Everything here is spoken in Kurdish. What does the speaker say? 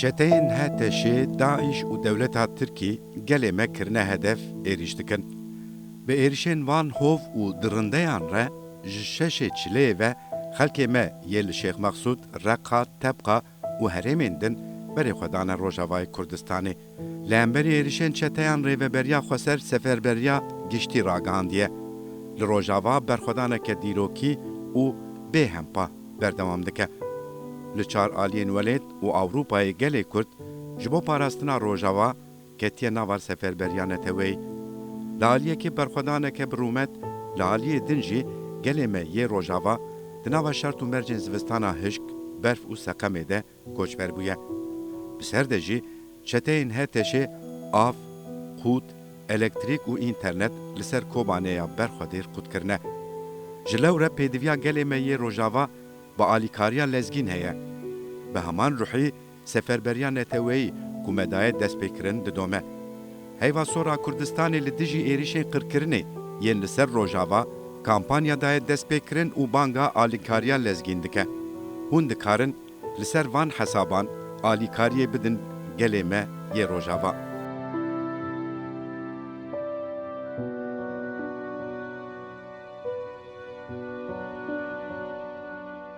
Çeteyên HTŞ, DAIŞ û dewleta Tirkî gelê me kirine hedef, êrîş dikin. Bi êrişên van hov û dirindeyan re ji şeşê çileyê ve xelkê me yê li Şêx Mexsûd, Reqa, Tebqa, û herêmên din berê xwe dane Rojavayê Kurdistanê. Li hemberî êrîşên çeteyan Rêveberiya Xweser Seferberiya Giştî ragihandiye, Li Rojava berxwedaneke dîrokî û bê hempa berdewam dike. Li çar aliyên welêt û Ewropayê gelê Kurd ji bo parastina Rojava, ketiye nav ar seferberiya neteweyî. Li aliyê kê berxwedaneke bi rûmet, li aliyê din jî gelê me yê rojava di nava şert û mercên zivistana hişk, berf û seqemê de koçber bûye. Bi ser de jî çeteyên HTŞ'ê av, qût, elektrîk û înternet li ser Kobanê ya ber xwe dêr qut kirine. Ji lewre pêdiviya gelê me yê rojava bi alîkariya lezgîn heye. Bi heman ruhî Seferberiya neteweyî ku me daye destpêkirin didome. Heyva sora Kurdistanê li dijî êrişên qirkirinê yên li ser Rojava kampanya daye destpêkirin û banga alîkariya lezgîn dike. Hûn dikarin li ser van hesaban alîkariyê bidin gelê me yê Rojava.